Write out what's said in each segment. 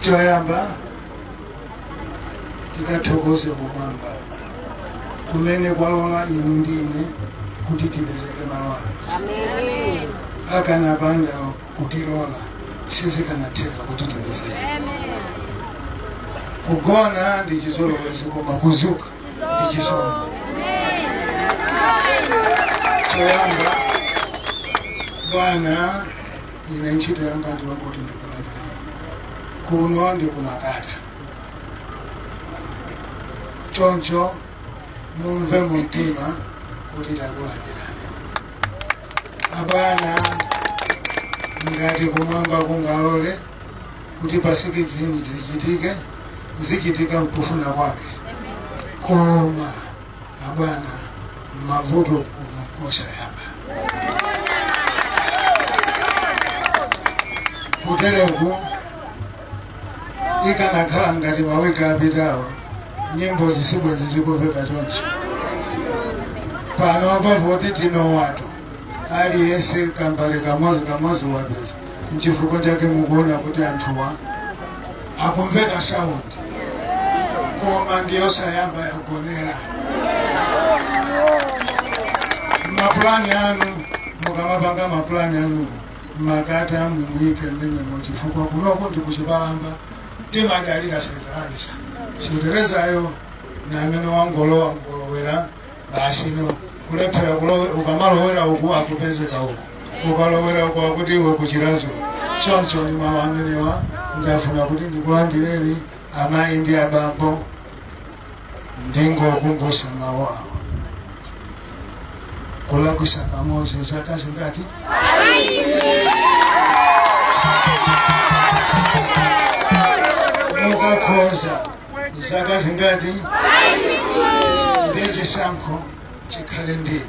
choyamba tikathokoze kumwamba kumene kwalola inu ndi ine kuti tipezeke malo ano Amen. akanapanda kutilola sizikanatheka kuti tipezeke kugona ndi chizolowezi koma kuzuka ndi chisomo choyamba bwana Ine ntchito yanga ndi yongoti ndikulandireni kuno ndi kumakata, choncho mumve mu mtima kuti takulandirani. Abwana, ngati kumwamba kungalole kuti pa 16 zichitike, zichitika mkufuna kwake koma abwana mavuto kuno nkosayamba kutereku ikanakhala ngati mawiki apitawo nyimbo zisibwezi zikuveka choncho pano pavoti tinowatu aliyense kambale kamodzi kamodzi wapeza mchifukwa chake mukuona kuti anthuwa akumveka sound koma ndiyosayamba yagonera mapulani anu mukamapanga mapulani anu Makata mumuyike mmenemo chifukwa kunoku ndi kuchipalamba timadalira fetereza feterezayo namene wangolowa ngolowera basi inu kulephera ukamalowera uku akupezeka uku ukalowera uku akuti iwe kuchiradzulu choncho ndi mawu amenewa ndafuna kuti ndikulandireni amayi ndi abambo ndingokumbutsa mawu awa kulakwitsa kamodzi zaka zingati mukakhoza zaka zingati ndiye chisankho chikhale ndinu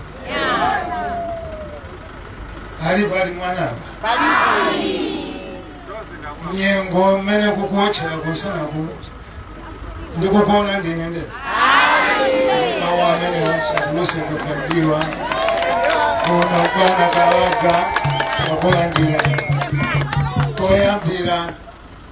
ali pali mwanapa nyengo mmene kukuotchera kunsanaku ndikukuona ndine nde mawu amenewo nsachuluse gaga mdiwa kuona bwana kalaga wakulandira koyambira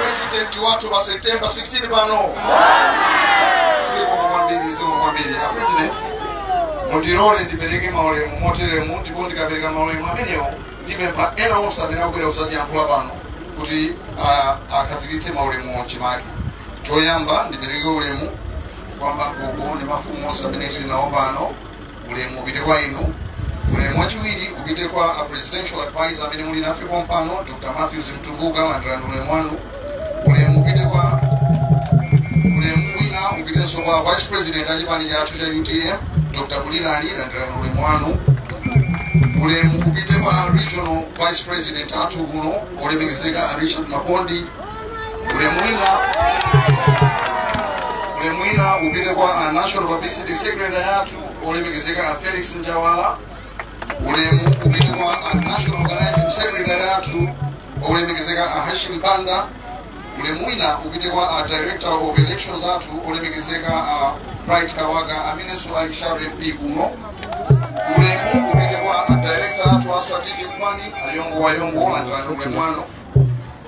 president wathu pa september 16 pano zikomo kwambiri zikomo kwambiri a president mundilole ndipereke maulemu moteremu ndipo ndikapereka maulemu amenewo ndipempha ena onse amene akubwera kuzatiyankhula pano kuti ah, akhazikitse maulemu mchimake choyamba ndipereke ulemu kwa magogo ndi mafumu onse amene tili nawo pano ulemu upite kwa inu ulemu wachiwiri upite kwa a presidential advisor amene muli nafe pompano dr matthews mtumbuka landirani ulemu wanu ulemu upite kwa ulemu wina upitenso kwa vice president achipani chathu cha utm dr bulirani landirani ulemu wanu ulemu upite kwa regional vice president athu kuno olemekezeka a richard makondi ulemu wina ulemu wina upite kwa a national publicity secretary athu olemekezeka a felix njawala ulemu upite kwa a national organizing secretary athu olemekezeka a hashim banda ulemu wina upite kwa a director of elections athu olemekezeka a bright kawaga amenenso ali shadow mp kuno ulemu upite kwa a director athu a strategic planning ayongo wayongo landirani ulemu wanu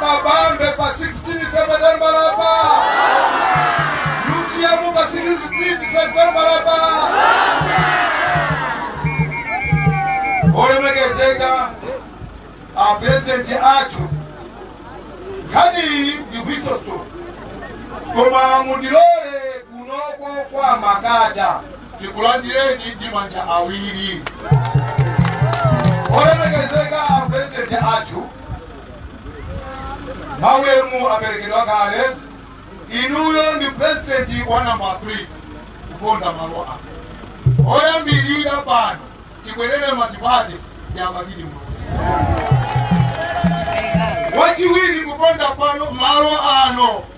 Kabambe pa 16 September lapa. UTM pa 16 September lapa. Olemekezeka a president athu nkhaniyi ndi kwisosto koma mundilole kunoko kwa makata tikulandireni ndi manja awiri olemekezeka a president athu maulemu aperekedwa kale inuyo ndi purezidenti wa namba 3 kuponda malo ano oyambirira pano tibwerere multiparty a bakili muluzi wachiwiri kuponda pano malo ano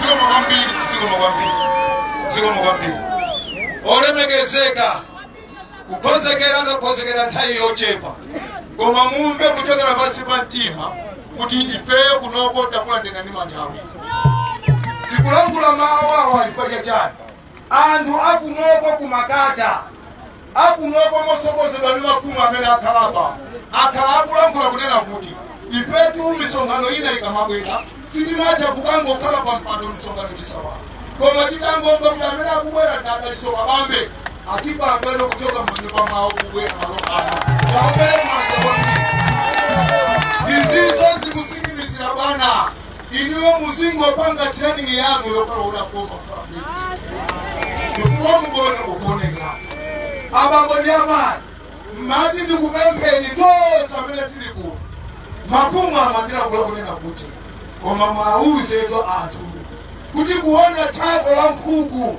zikomo kwambiri zikomo kwambiri zikomo kwambiri olemekezeka kukonzekera ndakonzekera nthawi yochepa koma mumve kuchokera pansi pa mtima kuti ifeyo kunoko takulandirani ndi manja awiri tikulankhula mawu awa chifukwa chachani anthu akunoko ku makata akunoko motsogozedwa ndi mafumu amene akhala apa akhala akulankhula kunena kuti ifetu misonkhano ina ikamabwera sitimatha kukangokhala pa mpando misonkhano sisowa koma titangomva kuti amene akubwera ndi a dalitso kabambe atipangana kuchoka manyumba mwawo kubwera malo ano taombeni manja kwambiri izizo zikutsimikizira bwana inuyo muzingopanga training yanu yokalola koma chifukwa mukaona kukuonekera abambo ndi amayi ndimati ndikupempheni tonse amene tili kuno mafumu amandilankhula kunena kuti koma muwauzetu anthu kuti kuona thako la nkhuku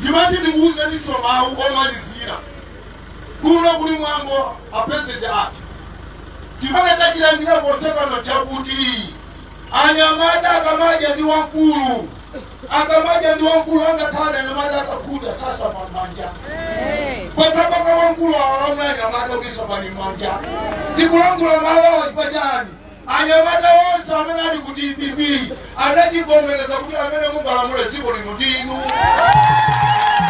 ndimati ndikuwuzeninso mawu omalizira kuno kuli mwambo a president ati chimene tachilandira konsekuno chakuti anyamata akamadya ndi wamkulu akamadya ndi wamkulu angakhale anyamata akakhuta sasamba m'manja mpaka mpaka wamkulu awalamula anyamata kuti sambani m'manja tikulankhula mawu awa chifukwa chani Anyamata onse amene ali ku dpp anachivomereza kuti amene mungalamule dziko lino ndinu.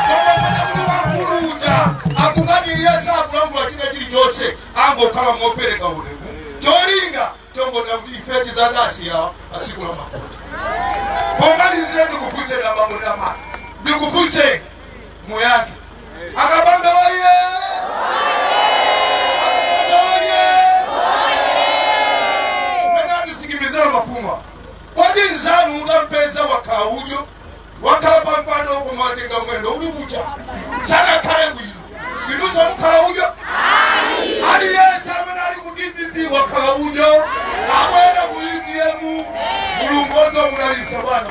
Koma pena kuti wamkulu uja akukanirira sakulankhula china chilichonse angokhala mopereka ulemu. Cholinga chongona kuti ife tizakasiyana tsiku la mavoti. Pomalizira ndikufunseni abambo ndi amayi. Ndikufunseni muyankhe akabambe oye akabambe oye mene atisikimizira mapuma kodi nzanu mutampeza wakhala udyo wakhala pampando koma watenga mwendo uli kunja sanakhale bwino inunso mukhala udyo aliyense amene ali ku dpp wakhala udyo abwera ku utm mulungu onse munalisa bwana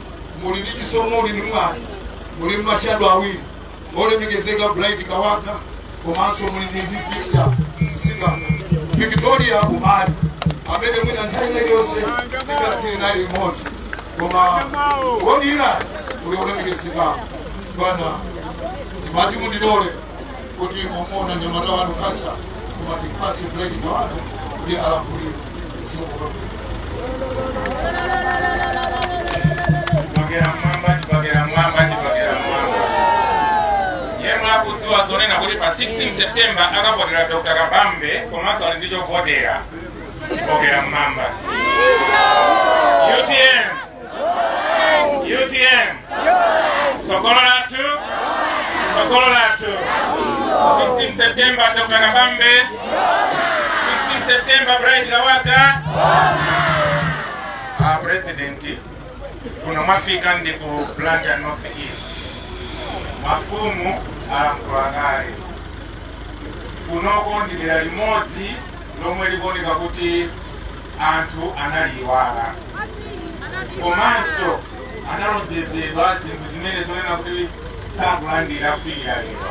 muli ndi chisomo muli ndi mwayi muli ndi ma shadow awiri olemekezeka bright kawaga komanso muli ndi ndi victor msingano victoria umali amene mwina nthawi ina iliyonse tikatiri naye limodzi koma wodira uli olemekezeka bwana ndimati mundilole kuti mwamuona mnyamata wanu kasa koma tipatse bright kawaga kuti alamulire chibakera m'mwamba chibakera m'mwamba chibakera m'mwamba yemwe akudziwa zonena kuti pa 16 september akavotera dr kabambe komanso ali ndi chovotera chibakera m'mwamba utm utm tsogolo lathu tsogolo lathu 16 september dr kabambe 16 september bright kawaga a president kuno mwafika ndi ku blantyre north east mafumu alankhula kale kunoko ndi dera limodzi lomwe likuoneka kuti anthu analiyiwala komanso analonjezedwa zinthu zimene zonena kuti sakulandira kufikira lero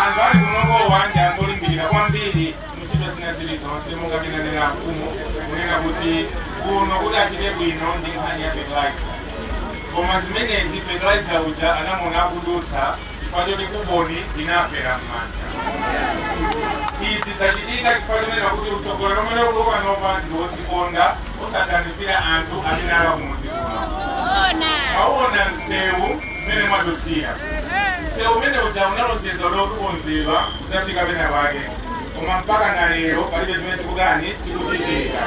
anthu ali kunokowa ndi anthu olimbikira kwambiri muntchito zina zilizonse monga ananena mfumu kunena kuti kuno kuti achite bwino ndi nkhani ya fertilizer koma zimenezi fertilizer uja anamona akudutsa chifukwa choti kuboni inafera m'manja izi zachitika chifukwa chonena kuti utsogoleri omwe ulipo panopa ndi wodzikonda osaganizira anthu amene ali kumudzi kuno mwaona msewu mmene mwadutsira msewu umene uja unalonjezedwa kukonzedwa kudzafika pena pake koma mpaka na lero palibe chimene tikutani tikuchitika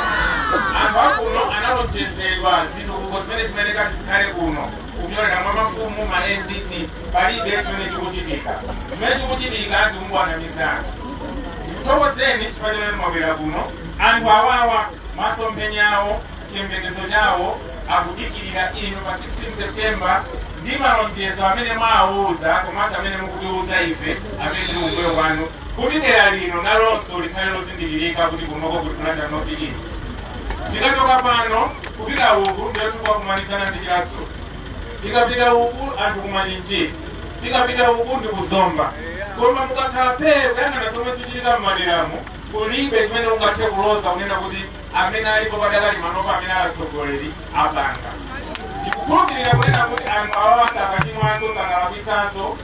anthu akuno analonjezedwa zitukuko zimene zimene kati zikhale kuno kupyolera mwa mafumu ma vdc palibe chimene chikuchitika chimene chikuchitika ndi kungowanamiza anthu ndikuthokozeni chifukwa chimene mwabwera kuno anthu awawa masomphenya awo chiyembekezo chawo akudikirira inu pa 16 september ndi malonjezo amene mwawauza komanso amene mukutiuza ife amene tili kumbuyo kwanu kuti dera lino nalonso likhale lozindikirika kuti kunoko kuli blantyre north east tikachoka pano kupita uku ndiye tikukakumanizana ndi chiradzu tikapita uku ndi kumachinjiri tikapita uku ndi kuzomba koma mukakhala phee kuyang'ana zomwe zichitika m'maderamu kulibe chimene ungathe kuloza kunena kuti amene alipo padakali manopa amene ali atsogoleri apanga ndikukhulupirira kunena kuti anthu awawa sakachimwanso sakalakwitsanso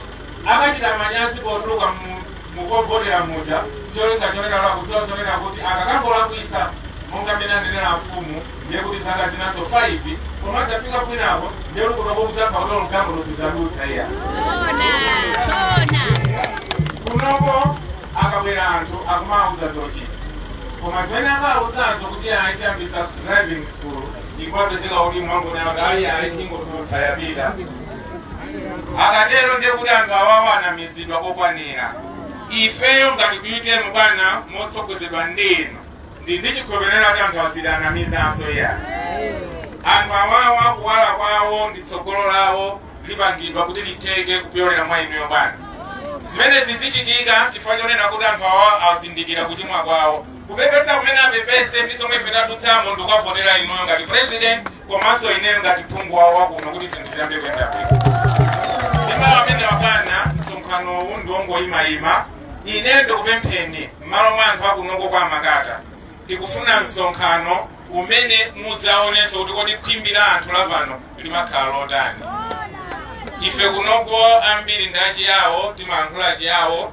akachita manyazi potuluka mu mu kovotera muja cholinga chonena akudziwa zonena kuti akakangolakwitsa monga mmene anenera afumu ndiye kuti zaka zinanso 5 koma adzafika kwinako ndiye kuti kunoko kudzakhala kuti olugamo luzidzadutsa iya kunoko akabwera anthu akumawuza zochita koma zimene akawuzazo kuti ayi tiyambisa driving school n'kupezeka kuti mwangonena kuti ayi ayi tingotulutsa yapita akatero ndiye kuti anthu awawa anamizidwa kokwanira ifeyo ngati utm bwana motsogozedwa ndi inu ndili ndi chikhulupiriro kuti anthu awa sitiwanamizanso iya anthu awawa kuwala kwawo ndi tsogolo lawo lipangidwa kuti litheke kupyolera mwa inuyo bwana zimenezi zichitika chifukwa chonena kuti anthu awawa azindikira kuchimwa kwawo kupepesa kumene apepese ndi zomwe ife tadutsamo ndikukavotera inuyo ngati president komanso ineyo ngati phungu wawo wakuno kuti zinthu ziyambe kuyenda bwino ndi mawu amenewa bwana msonkhanowu ndi wongoyimayima ine ndikupempheni m'malo mwa anthu akunoko kwa makata tikufuna msonkhano umene mudzaonenso kuti kodi khwimbi la anthu lapano limakhala lotani ife kunoko ambiri ndi achiyawo timalankhula chiyawo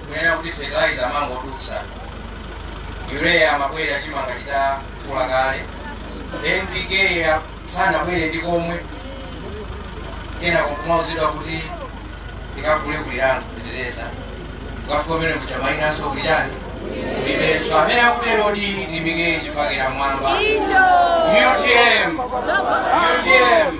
kunena kuti fertilizer amangodutsa urea amabwera chimanga chitakula kale npk ya- sanabwere ndi komwe kenako kumauzidwa kuti tikagule kulirangwe kuteteza ukafika kumene kuja mainanso kulirangwe kulibenso amene akutero di timike chipakira mwamba utm utm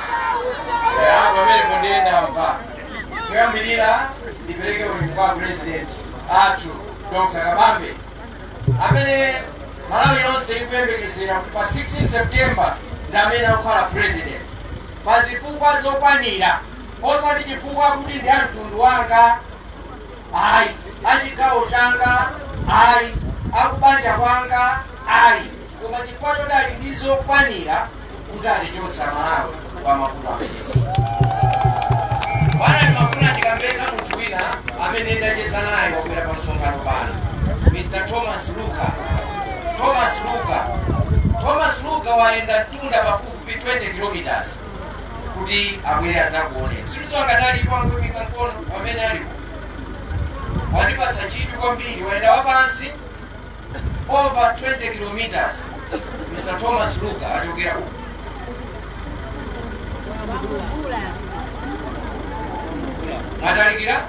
apa pamenepo ndiye ndamva choyambirira ndipereke ulemu kwa president athu dr kabambe amene malawi yonse ikuyembekezera pa 16 september ndi amene akukhala president pa zifukwa zokwanira osati chifukwa kuti ndi amtundu wanga ayi achigawo changa ayi akubanja kwanga ayi koma chifukwa choti ali ndi zokwanira kuti atichotsa malawi pa mavuto amenewa bwana ndimafuna ndikambe za munthu wina amene ndacheza naye wabwera pa msonkhano pano mr thomas luka thomas luka thomas luka wayenda mtunda pafupifupi 20 kilometers kuti abwere adzakuoneni sindidziwa akadali kwangu mikankono wamene alipo wandipatsa chidwi kwambiri wayenda wapansi over 20 kilometers mr thomas luka achokera uku matalikira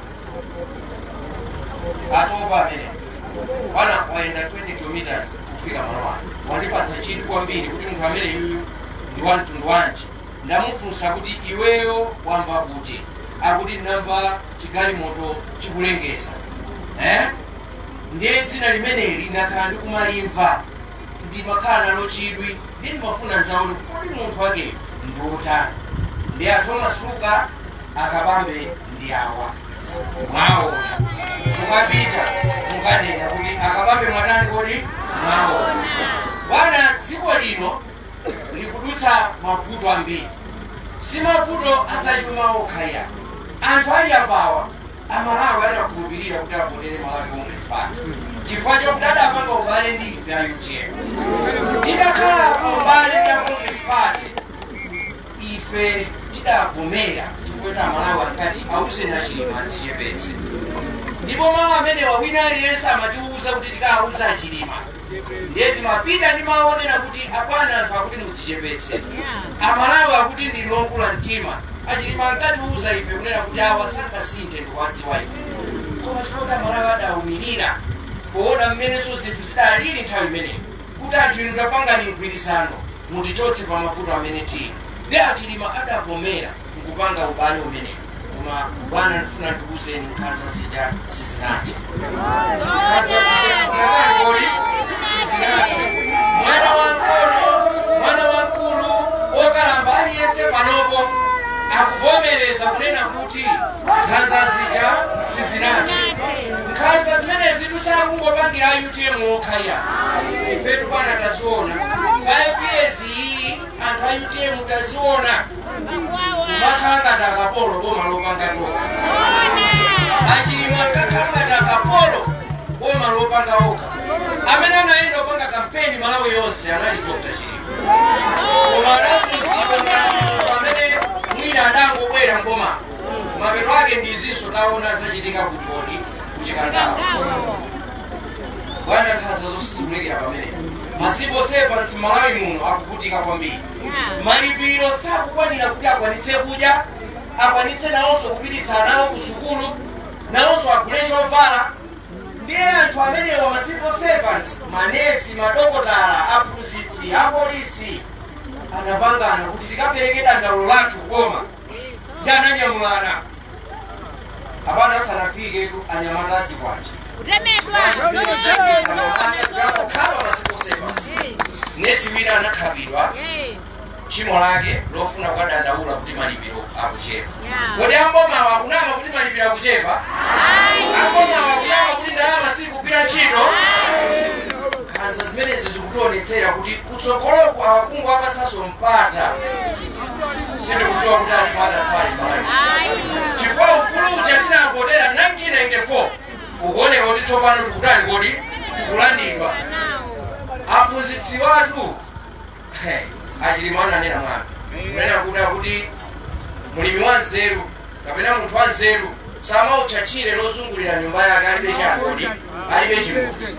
atopa amene bwana wayenda 20 kilometers kufika malo ano wandipatsa chidwi kwambiri kuti munthu amene yuyu ndi wa mtundu wanji ndamufunsa kuti iweyo wamva kuti akuti ndamva chigalimoto chikulengeza eh? ndiye dzina limeneli ndakhala ndikumalimva ndimakhala nalo chidwi ndiye ndimafuna nzaone kuti munthu wakeyo ndi wotani ndiye a thomas luka akabambe ndi awa mwaona mukapita mukanene kuti akabambe mwatani kodi mwaona bwana dziko lino likudutsa mavuto ambiri si mavuto azachuma okha ayi anthu ali apawa amalawi adakhulupirira kuti avotere malawi congress party chifukwa chokuti adapanga ubale ndi ife a utm tidakhala pa ubale ndi a congress party ife tidavomera chifukwa kuti amalawi ankati auzeni achilima adzichepetse ndipo mawu amenewa wina aliyense amatiwuza kuti tikawuze achilima ndiye timapita ndi mawu onena kuti abwana anthu akuti mudzichepetse amalawi akuti ndinu okula mtima achilima ankatiuza ife kunena kuti awa sangasinthe ndikuwadziwa ife koma chifukwa amalawi adaumirira poona mmenenso zinthu zidalili nthawi imeneyo kuti anthu inu tapangani mgwirizano mutichotse pa mavuto amene tili ndiye achilima adavomera mkupanga ubale umenewu koma bwana ndifuna ndikuuzeni nkhanza zija sizinathe nkhanza zija sizinathe kodi sizinathe mwana wamng'ono mwana wamkulu wokalamba aliyense panopo akuvomereza kunena kuti nkhanza zija sizinathe nkhanza zimenezi sakungopangira a utm okha ayi ifetu bwana taziona 5 years iyi anthu a utm taziona kumakhala ngati akapolo boma lopanga toka achilima ankakhala ngati akapolo boma lopanga oka amene anayenda kupanga kampeni malawi yonse anali dr chilima koma adazunzidwa ngati munthu amene mwina adangobwera m'boma mapeto ake ndi izinso taona zachitika kuti kodi kuchikandawa bwana nkhaza zonse zikulekera pamene ma civil servants m'malawi muno akuvutika kwambiri malipiro sakukwanira kuti akwanitse kudya akwanitse nawonso kupititsa anawo ku sukulu nawonso agule chovala ndiye anthu amenewa ma civil servants manesi madokotala aphunzitsi apolisi anapangana kuti tikapereke dandaulo lathu koma ndi ananyamulana apana asanafike anyamata a zikwanje kukhapa ma civil servant nesi wina anakhapidwa tchimo lake lofuna kukadandaula kuti malipiro akuchepa kodi ambomawa akunama kuti malipiro akuchepa ambomawa akunama kuti ndalama sikugwira ntchito nkhanza zimenezi zikutionetsera kuti kutsogoloku tikangowapatsanso mpata sindikudziwa kuti alipo adzatsale malawi chifukwa ufulu uja tinavotera 1994 ukuoneka kuti tsopano tikutani kodi tikulandidwa mphunzitsi wathu achilima ananena mwambi kunena kuti mulimi wa nzeru kapena munthu wa nzeru samaotcha tchire lozungulira nyumba yake alibe cha kodi alibe chimbudzi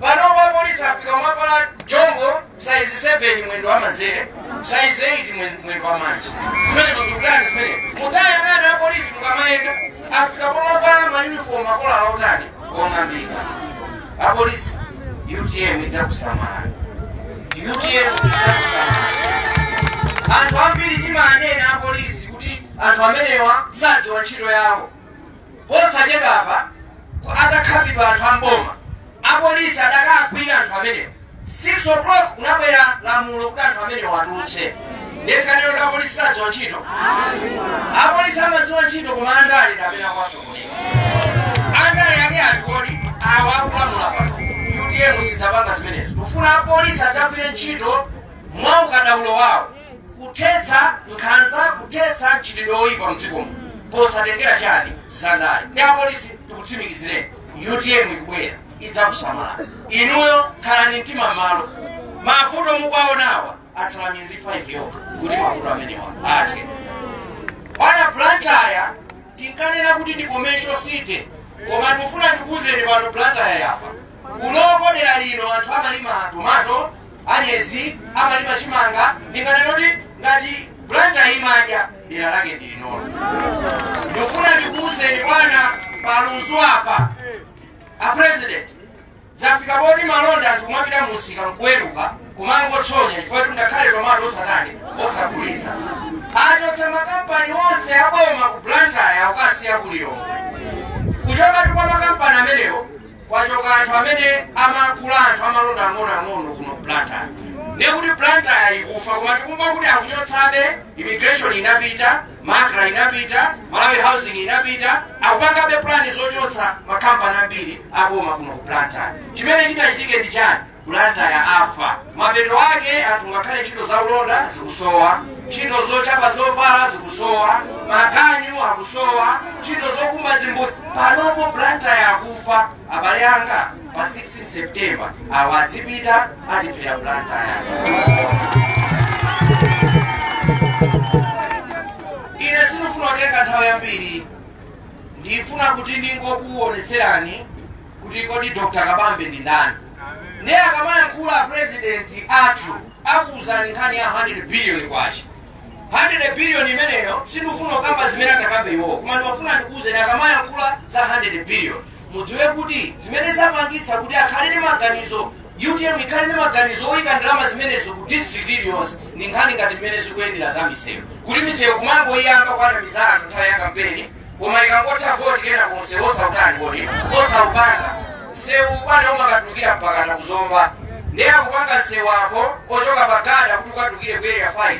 panopa apolisi afika pomavala jombo saizi 7 mwendo wa manzere saizi 8 mwe- mwendo wa manja zimenezo zikutani zimene mutayang'ana apolisi mukamayenda afika pomavala mayunifomu a kolala yotani yong'ambika apolisi utm idzakusamala utm idzakusamala anthu ambiri timanena apolisi kuti anthu amenewa sadziwa ntchito yawo posachedwapa atakhapidwa anthu amboma apolisi adakagwira anthu amenewo 6 o'clock kudabwera lamulo kuti anthu amenewo awatulutse ndiye akanene kuti apolisi sadziwa ntchito apolisi amadziwa ntchito koma andale ndamene akuwasokoneza andale ake ati kodi awa akulamula pano utm sidzapanga zimenezo tufuna apolisi adzagwire ntchito mwa ukadaulo wawo kuthetsa nkhanza kuthetsa mchitidwe woyipa mdziko muno posatengera chani zandale ndiye apolisi tikutsimikizireni utm ikubwera idzakusamala inuyo khalani mtima m'malo mavuto mukuwaonawa atsala miyezi 5 yokha kuti mavuto amenewa athe bwana blantyre tinkanena kuti ndi commercial city koma ndikufuna ndikuwuzeni pano blantyre yafa kunoko dera lino anthu amalima tomato anyezi amalima chimanga ndinganena kuti ngati blantyre imadya dera lake ndi linolo ndifuna ndikuwuzeni bwana palunzu apa a president zafika poti malonda anthu kumapita musika nkuweruka kumangotsonya chifukwa kuti ngakhale tomato osatani osagulitsa achotsa makampani onse aboma ku blantyre ukasiya ku lilongwe kuchokatu kwa makampani amenewo kwachoka anthu amene amagula anthu amalonda ang'onoang'ono kuno blantyre ndiye kuti blantyre ikufa koma tikumva kuti akuchotsabe immigration inapita macra inapita malawi housing inapita akupangabe plani zochotsa makampani ambiri aboma kuno ku blantyre chimene chitachitike ndi chani Blantyre afa. Mapeto ake anthu ngakhale ntchito za ulonda zikusowa, ntchito zochapa zovala zikusowa, maganyu akusowa, ntchito zokumba zimbudzi. Panopo Blantyre akufa. Abale anga pa 16 September awa adzipita atiphera Blantyre. Ine sindifuna kutenga nthawi yambiri, ndifuna kuti ndingokuonetserani kuti kodi dr kabambe ndi ndani ndiye akamayankhula president athu akuwuzani nkhani ya 100 billion kwacha 100 billion imeneyo sindifuna kukamba zimene atakambe iwowo koma ndimafuna ndikuwuzeni akamayankhula za 100 billion mudziwe kuti zimene zapangitsa kuti akhale ndi maganizo utm ikhale ndi maganizo oyika ndalama zimenezo ku district iliyonse ndi nkhani ngati mmene zikuyendera za misewu kuti misewu kumangoyiyamba kuwanamiza anthu nthawi ya kampeni koma ikangotha voti kena konse osautani kodi osaupanga msewu bwana umakatulukira mpakana kuzomba ndiye akupanga msewu apo ochoka pagada kuti ukatulukire ku area 5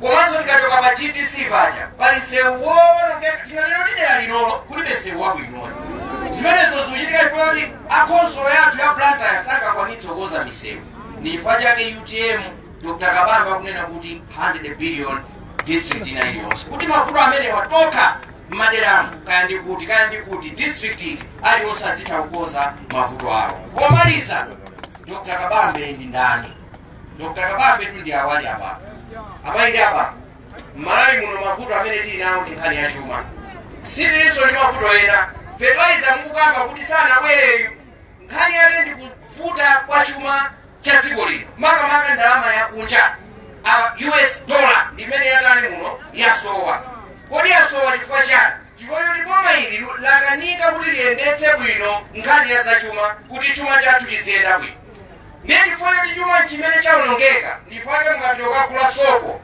komanso tikachoka pa gtc paja pali msewu woonongeka tinganene dera linolo kulibe msewu wabwino ayi zimenezo zikuchitika chifukwa akhonsolo yathu ya blantyre sangakwanitse kukonza misewu ndi chifukwa chake utm dr kabambe akunena kuti 100 billion district ina iliyonse kuti mavuto amenewa tokha mmaderamu kaya ndi kuti kaya ndi kuti district iti aliyonse adzitha kukonza mavuto awo pomaliza dr kabambe ndi ndani dr kabambe tu ndi awa ali apa apayi ndi apa mmalawi muno mavuto amene tili nawo ndi nkhani ya chuma sitilinso ndi mavuto ena fertilizer mukukamba kuti sanabwereyu Nkhani yake ndi kuvuta kwa chuma cha dziko lino, makamaka ndalama yakunja ya US dollar ndi imene yatani muno yasowa. Kodi yasowa chifukwa chani? Chifukwa choti boma ili lakanika kuti liyendetse bwino nkhani ya zachuma kuti chuma chathu chidziyenda bwino. Ndiye chifukwa choti chuma chimene chawonongeka, ndifake mukapita kukagula sopo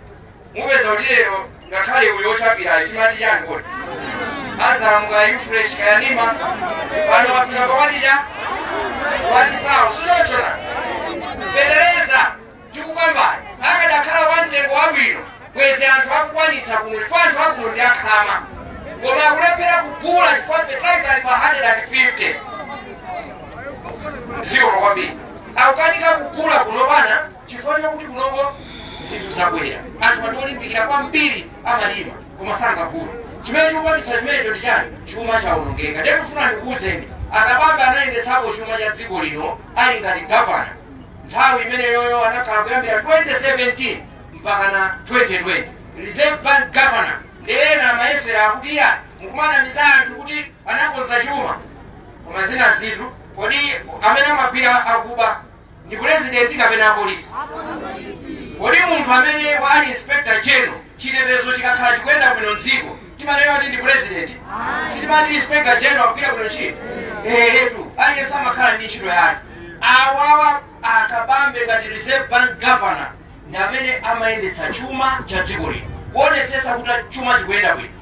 mupeza kuti lero ngakhale uyo ochapirayo timati chani kodi azamu kaya ufresh kaya nima pano wafika pawadira wadipawo sichoncho fetereza tikukambayu akadakhala wa mtengo wabwino bwezi anthu akukwanitsa kuno chifukwa anthu akuno ndi akhama koma akulephera kugula chifukwa fertilizer ali pa 150 zikomo kwambiri akukanika kugula kuno bana chifukwa chakuti kunoko zinthu zakwera anthu anthu olimbikira kwambiri amalima koma sangagula chimene chikupangitsa chimenecho ndi chani chuma chawonongeka ndiye ndifuna ndikuwuzeni akabambe anayendetsapo chuma cha dziko lino ali ngati gavana nthawi imeneyoyo anakhala kuyambira 2017 mpaka na 2020 reserve bank governor ndiye ena amayesera akuti iya mukumanamiza anthu kuti anakonza chuma koma zina zinthu kodi amene amagwira akuba ndi pulezidenti kapena apolisi kodi munthu amenewa ali inspector general chitetezo chikakhala chikuyenda bwino mdziko timanena kuti ndi pulezidenti sitimati inspector general akugwira bwino ntchito eetu aliyense amakhala ndi ntchito yake awawa akabambe ngati reserve bank governor ndi amene amayendetsa chuma cha dziko lino kuonetsetsa kuti chuma chikuyenda bwino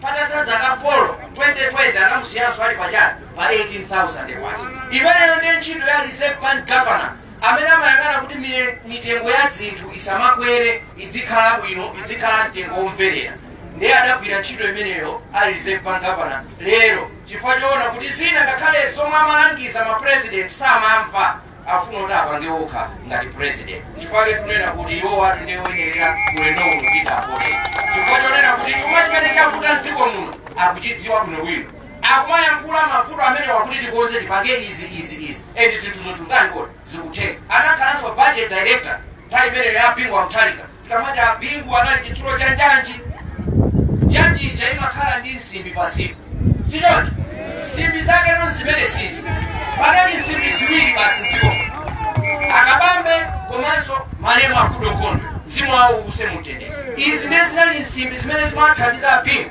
patatha dzaka 4 2020 anamusiyanso ali pa chani pa 18000 kwacha imeneyo ndiye ntchito ya reserve bank governor amene amayang'ana kuti mire- mitengo ya dzinthu isamakwere idzikhala bwino idzikhala mtengo womverera ndiye adagwira ntchito imeneyo ali reserve bank governor lero chifukwa choona kuti zina ngakhale zomwe amalangiza ma president samamva afuna kuti apange okha ngati president chifukwa chake tunena kuti iwowatu ndiye oyenera ulendo uno kupita apote chifukwa chonena kuti chuma chimene chavuta mdziko muno akuchidziwa bwinobwino akumayankhula mavuto amenewa kuti tikonze tipange izi izi izi and zinthu zotani kodi zikutheka anakhalanso budget director nthawi imeneyo ya bingu wa mutharika tikamati a bingu anali chitsulo cha njanji njanji ija imakhala ndi nsimbi pansipo sichoncho nsimbi zake ndi zimenezizi panali nsimbi ziwiri basi mdziko akabambe komanso malemu a goodall gondwe mzimu wawo uuse mumtendere izi ndiye zinali nsimbi zimene zimathandiza a bingu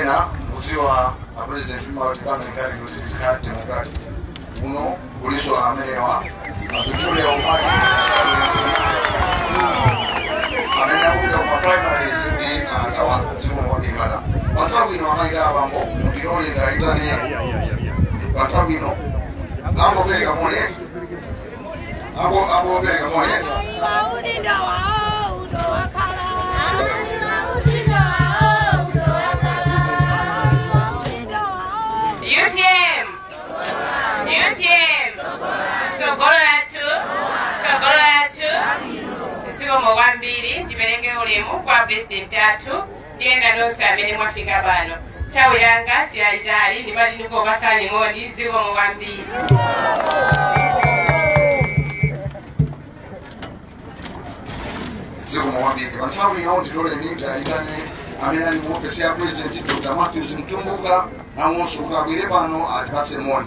ena mukudziwa apresident mmawatikanga ngati kuti tizikhala democratic kuno kulinso amenewa avictoria umali amene akupita kuma primaries ndi anzawo zikomo kwambiri madam panthawi ino amayi ndi abambo mundilole ndiwayitane panthawi ino angopereka moleti Apo apo pereka moni eti. UTM UTM tsogolo lathu tsogolo lathu zikomo kwambiri ndipereke ulemu kwa president athu Ndi ena nonse amene mwafika pano, nthawi yanga siyayitali, ndimati ndikupatsani moni zikomo kwambiri. zikomo kwambiri pa nthawi ino ndilole ndiayitane amene ali mu ofesi ya president dr matthews mtumbuka nawonso kuti abwere pano atipatse moni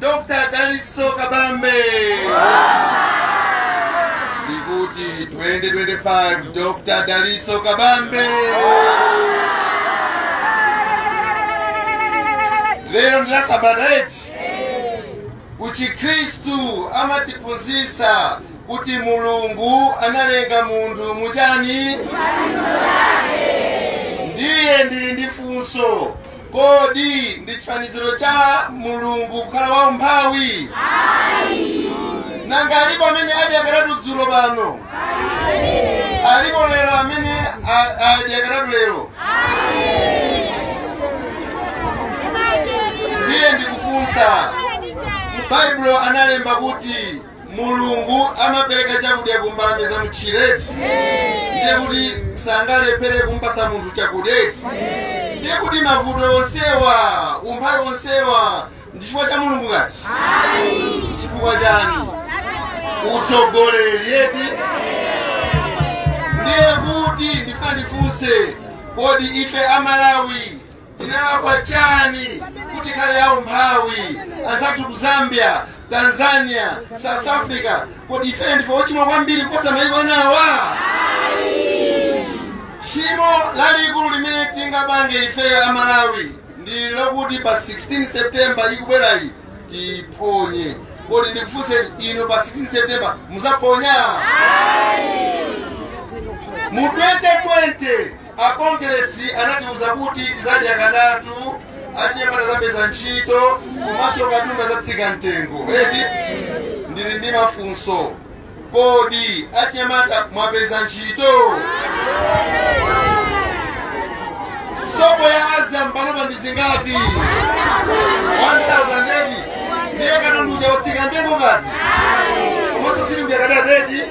Dr. Daliso Kabambe ndikuti 2025 Dr. Daliso Kabambe lero ndi lasabata eti kuchikhristu amatiphunzitsa kuti mulungu analenga munthu muchani ndiye ndili ndi funso Kodi ndi chifaniziro cha Mulungu kukhala waumphawi? Nanga alipo amene adyakaratu dzulo pano? Alipo lero amene a- adyakaratu lero? Ndiye ndikufunsa, mu Baibulo analemba kuti mulungu amapereka chakudya ku mbalame za m'tchire eti ndiye kuti sangalephere kumpatsa munthu chakudya eti ndiye kuti mavuto onsewa umphawi onsewu ndi chifukwa cha mulungu ngati chifukwa chani utsogoleri eti ndiye kuti ndifuna ndifunse kodi ife amalawi tinalakwa chani kuti tikhale aumphawi anzathu ku zambia tanzania south africa kodi ifeyo ndife ochimwa kwambiri kuposa maiko enawa tchimo lalikulu limene tingapange ifeyo a malawi ndi lokuti pa 16 september ikubwerayi tiponye kodi ndikufunse inu pa 16 september mudzaponya mu 2020 a kongeresi anatiuza kuti tidzadya katatu achinyamata adzapeza ntchito komanso katundu adzatsika mtengo eti ndili ndi mafunso kodi achinyamata mwapeza ntchito sopo ya azam panopa ndi zingati 1000 ndiye katundu uja watsika mtengo ngati komanso sili uja katatu eti